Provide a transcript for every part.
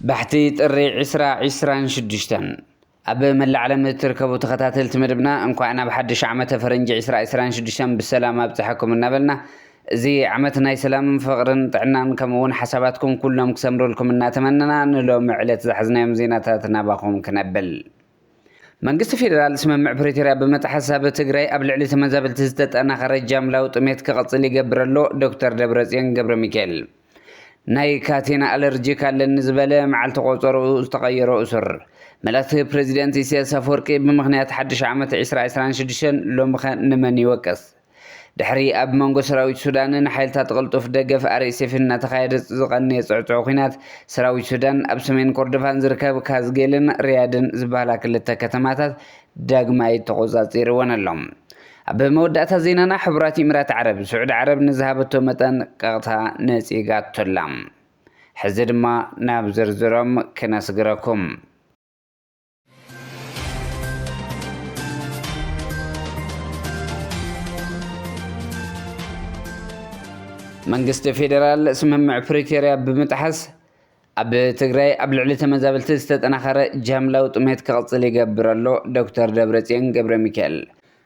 ባሕቲ ጥሪ ዕስራ ዕስራን ሽዱሽተን ኣብ መላእ ዓለም እትርከቡ ተኸታተልቲ መደብና እንኳዕ ናብ ሓድሽ ዓመተ ፈረንጂ ዕስራ ዕስራን ሽዱሽተን ብሰላም ኣብፀሐኩም እናበልና እዚ ዓመት ናይ ሰላም ፍቅርን ጥዕናን ከምኡ ውን ሓሳባትኩም ኩሎም ክሰምርልኩም እናተመነና ንሎሚ ዕለት ዝሓዝናዮም ዜናታት ናባኹም ክነብል መንግስቲ ፌደራል ስምምዕ ፕሪቶርያ ብምጥሓስ ኣብ ትግራይ ኣብ ልዕሊ ተመዛበልቲ ዝተጠናኸረ ጃምላዊ ጥሜት ክቕፅል ይገብር ኣሎ ዶክተር ደብረፅዮን ገብረሚካኤል ናይ ካቴና ኣለርጂክ ኣለኒ ዝበለ መዓልቲ ቆፀርኡ ዝተቐየሮ እሱር መላእክቲ ፕሬዚደንት ኢሳያስ ኣፈወርቂ ብምኽንያት ሓድሽ ዓመት 2026 ሎምኸ ንመን ይወቅስ ድሕሪ ኣብ መንጎ ሰራዊት ሱዳንን ሓይልታት ቅልጡፍ ደገፍ ኣርኤስኤፍን እናተኻየደ ዝቐነየ ጽዕጹዕ ኲናት፣ ሰራዊት ሱዳን ኣብ ሰሜን ኮርዶፋን ዝርከብ ካዝጌልን ሪያድን ዝበሃላ ክልተ ከተማታት ዳግማይ ተቖጻጺርወን ኣሎ። ኣብ መወዳእታ ዜናና ሕቡራት ኢምራት ዓረብ፣ ስዑዲ ዓረብ ንዝሃበቶ መጠንቀቕታ ነጺጋቶ ኣላ። ሕዚ ድማ ናብ ዝርዝሮም ክነስግረኩም። መንግስቲ ፌዴራል ስምምዕ ፕሪቶርያ ብምጥሓስ ኣብ ትግራይ ኣብ ልዕሊ ተመዛበልቲ ዝተጠናኸረ ጃምላዊ ጥሜት ክቕፅል ይገብር ኣሎ ዶክተር ደብረፅዮን ገብረ ሚካኤል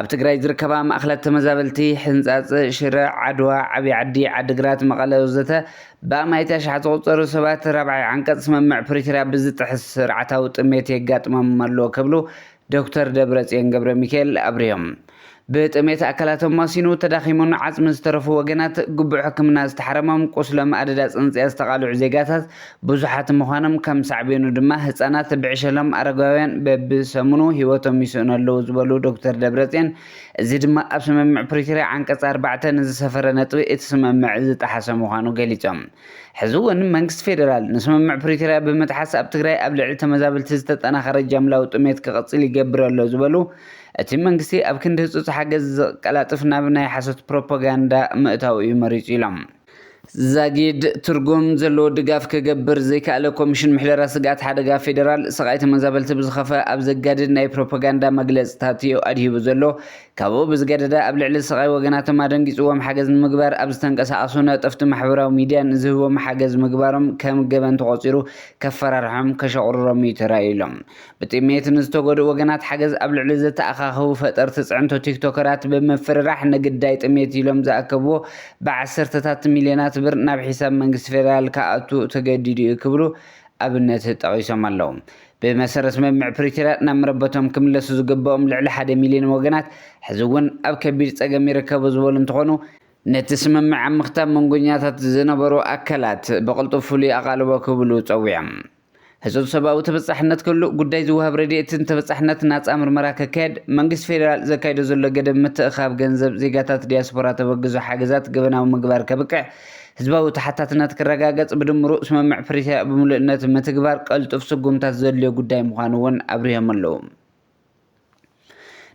ኣብ ትግራይ ዝርከባ ማእኸላት ተመዛበልቲ ሕንፃፅ፣ ሽረ፣ ዓድዋ፣ ዓብይ ዓዲ፣ ዓዲግራት፣ መቐለ ወዘተ ብኣማኢቲ ኣሽሓት ዝቑፀሩ ሰባት ራብዓይ ዓንቀፅ ስምምዕ ፕሪቶርያ ብዝጥሕስ ስርዓታዊ ጥሜት የጋጥሞም ኣሎ ክብሉ ዶክተር ደብረፅዮን ገብረሚካኤል ኣብሪሆም። ብጥሜት ኣካላቶም ማሲኑ ተዳኺሙን ዓፅሚ ዝተረፉ ወገናት፣ ግቡእ ሕክምና ዝተሓረሞም፣ ቁስሎም ኣደዳ ፅንፅያ ዝተቓልዑ ዜጋታት ብዙሓት ምዃኖም ከም ሳዕቤኑ ድማ ህፃናት ብዕሸሎም ኣረጋውያን በቢ ሰሙኑ ህይወቶም ይስእኑ ኣለዉ ዝበሉ ዶክተር ደብረፅዮን እዚ ድማ ኣብ ስምምዕ ፕሪቶርያ ዓንቀፅ ኣርባዕተ ንዝሰፈረ ነጥቢ እቲ ስምምዕ ዝጠሓሰ ምዃኑ ገሊፆም። ሕዚ እውን መንግስቲ ፌደራል ንስምምዕ ፕሪቶርያ ብምጥሓስ ኣብ ትግራይ ኣብ ልዕሊ ተመዛበልቲ ዝተጠናኸረ ጃምላዊ ጥሜት ክቕፅል ይገብር ኣሎ ዝበሉ እቲ መንግስቲ ኣብ ክንዲ ህፁፅ ሓገዝ ዝቀላጥፍ ናብ ናይ ሓሶት ፕሮፓጋንዳ ምእታው እዩ መሪፁ ኢሎም። ዛጊድ ትርጉም ዘለዎ ድጋፍ ክገብር ዘይከኣለ ኮሚሽን ምሕደራ ስግኣት ሓደጋ ፌደራል፣ ስቓይ ተመዛበልቲ ብዝኸፈ ኣብ ዘጋድድ ናይ ፕሮፓጋንዳ መግለጽታት'ዩ ኣድሂቡ ዘሎ። ካብኡ ብዝገደደ ኣብ ልዕሊ ስቓይ ወገናቶም ኣደንጊጽዎም ሓገዝ ንምግባር ኣብ ዝተንቀሳቐሱ ነጠፍቲ ማሕበራዊ ሚድያ ንዝህብዎም ሓገዝ ምግባሮም ከም ገበን ተቖጺሩ ከፈራርሖም ከሸቑርሮም'ዩ ተራእዩ ኢሎም ብጥሜት ንዝተጎድኡ ወገናት ሓገዝ ኣብ ልዕሊ ዘተኣኻኸቡ ፈጠርቲ ፅዕንቶ ቲክቶከራት ብምፍርራሕ ንግዳይ ጥሜት ኢሎም ዝኣከብዎ ብዓሰርተታት ሚልዮናት ብር ናብ ሒሳብ መንግስቲ ፌደራል ክኣቱ ተገዲዱ እዩ ክብሉ ኣብነት ጠቒሶም ኣለው። ብመሰረት ስምምዕ ፕሪቶርያ ናብ መረበቶም ክምለሱ ዝግበኦም ልዕሊ ሓደ ሚልዮን ወገናት ሕዚ እውን ኣብ ከቢድ ፀገም ይርከቡ ዝበሉ እንትኾኑ፣ ነቲ ስምምዕ ኣብ ምኽታብ መንጎኛታት ዝነበሩ ኣካላት ብቕልጡፍ ፍሉይ ኣቓልቦ ክህብሉ ፀዊዖም። ህጹጽ ሰብኣዊ ተበጻሕነት ከሉ፣ ጉዳይ ዝወሃብ ረድኤትን ተበጻሕነት ናጻ ምርመራ ከካየድ፣ መንግስቲ ፌደራል ዘካይዶ ዘሎ ገደብ ምትእኽኻብ ገንዘብ ዜጋታት ዲያስፖራ ተበግዞ ሓገዛት ገበናዊ ምግባር ከብቅዕ፣ ህዝባዊ ተሓታትነት ክረጋገጽ፣ ብድምሩ ስምምዕ ፕሪቶርያ ብምሉእነት ምትግባር ቀልጡፍ ስጉምታት ዘድልዮ ጉዳይ ምዃኑ'ውን ኣብሪሆም'ለዉ።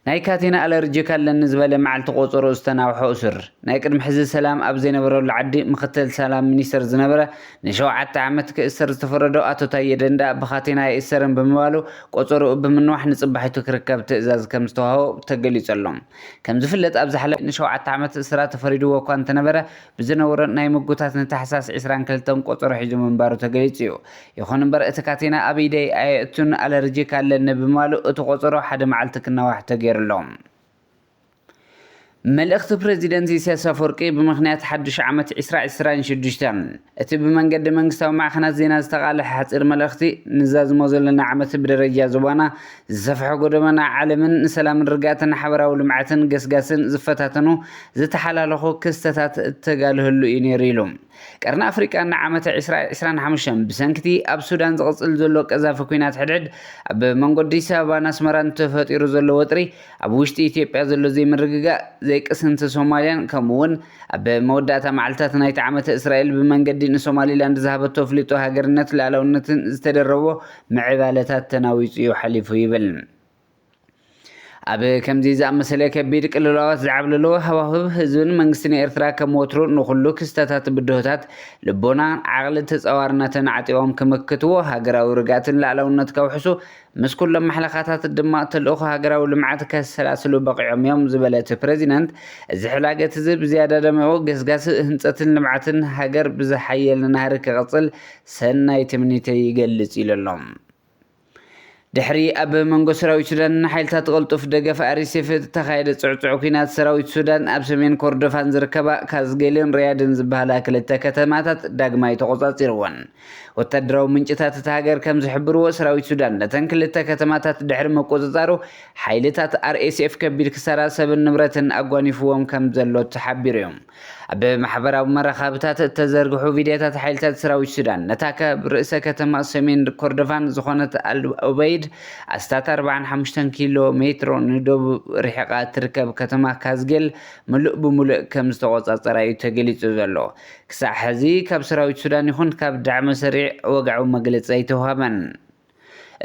ናይ ካቴና ኣለርጂክ ኣለኒ ዝበለ መዓልቲ ቆፀሮ ዝተናውሖ እሱር ናይ ቅድሚ ሕዚ ሰላም ኣብ ዘይነበረሉ ዓዲ ምክትል ሰላም ሚኒስተር ዝነበረ ንሸውዓተ ዓመት ክእሰር ዝተፈረዶ ኣቶ ታዬ ደንደኣ ብካቴና ኣይእሰርን ብምባሉ ቆፀርኡ ብምንዋሕ ንፅባሒቱ ክርከብ ትእዛዝ ከምዝተዋህቦ ተገሊፁ ኣሎ። ከምዝፍለጥ ኣብ ዝሓለፈ ንሸውዓተ ዓመት እስራት ተፈሪድዎ እኳ እንተነበረ ብዝነበሮ ናይ ምጉታት ንታሕሳስ ዕስራን ክልተን ቆጸሮ ሒዙ ምንባሩ ተገሊጹ'ዩ። ይኹን እምበር እቲ ካቴና ኣብ ኢደይ ኣየእቱን ኣለርጂክ ኣለኒ ብምባሉ እቲ ቆጸሮ ሓደ መዓልቲ ክናዋሕ ተገይሩ'ሎ። መልእኽቲ ፕረዚደንት ኢሳያስ ኣፍወርቂ ብምኽንያት ሓዱሽ ዓመት ዕስራ ዕስራን ሽዱሽተን እቲ ብመንገዲ መንግስታዊ ማዕኸናት ዜና ዝተቓልሐ ሓጺር መልእኽቲ ንዛዝሞ ዘሎና ዓመት ብደረጃ ዞባና ዝሰፍሐ ጎደባና ዓለምን ንሰላምን ርግኣትን ሓበራዊ ልምዓትን ገስጋስን ዝፈታተኑ ዝተሓላለኹ ክስተታት እተጋልሀሉ እዩ ነይሩ ኢሉ። ቀርኒ ኣፍሪቃ ንዓመተ ዕስራ ዕስራን ሓሙሽተን ብሰንኪቲ ኣብ ሱዳን ዝቕጽል ዘሎ ቀዛፊ ኲናት ሕድሕድ ኣብ መንጎ ኣዲስ ኣበባን ኣስመራን ተፈጢሩ ዘሎ ወጥሪ ኣብ ውሽጢ ኢትዮጵያ ዘሎ ዘይምርግጋእ ዘይቅስንቲ ሶማልያን ከምኡ'ውን ኣብ መወዳእታ መዓልትታት ናይቲ ዓመተ እስራኤል ብመንገዲ ንሶማሊላንድ ዝሃበቶ ኣፍልጦ ሃገርነት ልኣላውነትን ዝተደረቦ ምዕባለታት ተናዊጹ'ዩ ሓሊፉ ይብል። ኣብ ከምዚ ዝኣመሰለ ከቢድ ቅልውላዋት ዝዓብለሎ ሃዋህው፣ ህዝብን መንግስትን ኤርትራ ከም ወትሩ ንኹሉ ክስተታት ብድሆታት ልቦና፣ ዓቕሊ፣ ተጻዋርነትን ዓጢቖም ክምክትዎ፣ ሃገራዊ ርግኣትን ልኣላውነት ከውሕሱ፣ ምስ ኩሎም ማሕለኻታት ድማ ተልእኾ ሃገራዊ ልምዓት ከሰላስሉ በቒዖም'ዮም ዝበለ'ቲ ፕረዚደንት፣ እዚ ሕላገት'ዚ ብዝያዳ ደሚቑ ገስጋስ ህንጸትን ልምዓትን ሃገር ብዝሓየለ ናህሪ ክቕጽል ሰናይ ትምኒተይ ይገልጽ ኢሉ ኣሎ። ድሕሪ ኣብ መንጎ ሰራዊት ሱዳንን ሓይልታት ቅልጡፍ ደገፍ RSF እተኻየደ ጽዕጹዕ ኲናት፣ ሰራዊት ሱዳን ኣብ ሰሜን ኮርዶፋን ዝርከባ ካዝጌልን ሪያድን ዝበሃላ ክልተ ከተማታት ዳግማይ ተቖጻጺርወን። ወተሃደራዊ ምንጭታት እታ ሃገር ከም ዝሕብርዎ፣ ሰራዊት ሱዳን ነተን ክልተ ከተማታት ድሕሪ ምቁጽጻሩ፣ ሓይልታት RSF ከቢድ ክሳራ ሰብን ንብረትን ኣጓኒፍዎም ከም ዘሎ ተሓቢሩ'ዩ። ኣብ ማሕበራዊ መራኸብታት እተዘርግሑ ቪድዮታት ሓይልታት ሰራዊት ሱዳን ነታ ካብ ርእሰ ከተማ ሰሜን ኮርዶፋን ዝኾነት ኣልኡበይድ ኣስታት 45 ኪሎ ሜትሮ ንደቡብ ርሒቓ እትርከብ ከተማ ካዝጌል ምሉእ ብምሉእ ከም ዝተቖጻጸራ እዩ ተገሊጹ ዘሎ። ክሳዕ ሕዚ ካብ ሰራዊት ሱዳን ይኹን ካብ ዳዕመ ሰሪዕ ወግዓዊ መግለጺ ኣይተውሃበን።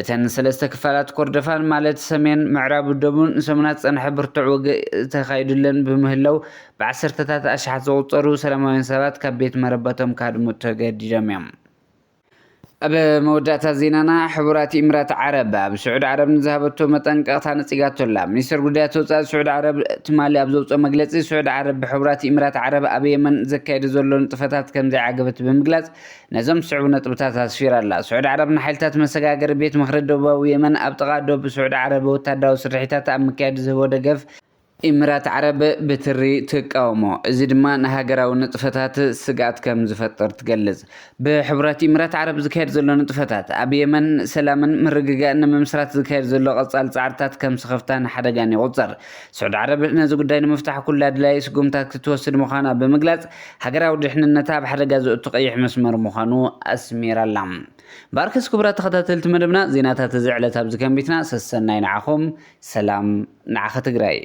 እተን ሰለስተ ክፋላት ኮርዶፋን ማለት ሰሜን፣ ምዕራብን ደቡብን ንሰሙናት ዝጸንሐ ብርቱዕ ውግእ ተኻይዱለን ብምህላው ብዓሰርተታት ኣሽሓት ዝቑጸሩ ሰላማውያን ሰባት ካብ ቤት መረበቶም ክሃድሙ ተገዲዶም እዮም። ኣብ መወዳእታ ዜናና ሕቡራት ኢምራት ዓረብ ኣብ ስዑድ ዓረብ ንዝሃበቶ መጠንቀቕታ ነጺጋቶ ኣላ። ሚኒስተር ጉዳያት ወጻኢ ስዑድ ዓረብ ትማሊ ኣብ ዘውጽኦ መግለጺ፣ ስዑድ ዓረብ ብሕቡራት ኢምራት ዓረብ ኣብ የመን ዘካይዶ ዘሎ ንጥፈታት ከምዘይዓገበት ብምግላጽ፣ ነዞም ዝስዕቡ ነጥብታት ኣስፊራ ኣላ። ስዑዲ ዓረብ ንሓይልታት መሰጋገሪ ቤት ምኽሪ ደቡባዊ የመን ኣብ ጥቓ ዶብ ስዑዲ ዓረብ ወታደራዊ ስርሒታት ኣብ ምክያድ ዝህቦ ደገፍ፣ ኢምራት ዓረብ ብትሪ ትቃወሞ፣ እዚ ድማ ንሃገራዊ ንጥፈታት ስግኣት ከም ዝፈጥር ትገልጽ። ብሕቡራት ኢምራት ዓረብ ዝካየድ ዘሎ ንጥፈታት፣ ኣብ የመን ሰላምን ምርግጋእን ንምምስራት ዝካየድ ዘሎ ቀጻሊ ጻዕርታት ከም ስኽፍታን ሓደጋን ይቑጸር። ስዑድ ዓረብ ነዚ ጉዳይ ንምፍታሕ ኩሉ ኣድላዪ ስጉምታት ክትወስድ ምዃና ብምግላጽ፣ ሃገራዊ ድሕንነታ ኣብ ሓደጋ ዘእቱ ቀይሕ መስመር ምዃኑ ኣስሚራ'ላ። እምበኣርከስ ክቡራት ተኸታተልቲ መደብና፣ ዜናታት እዚ ዕለት ኣብዚ ከንቢትና፣ ሰሰናዩ ንዓኹም፣ ሰላም ንዓኺ ትግራይ!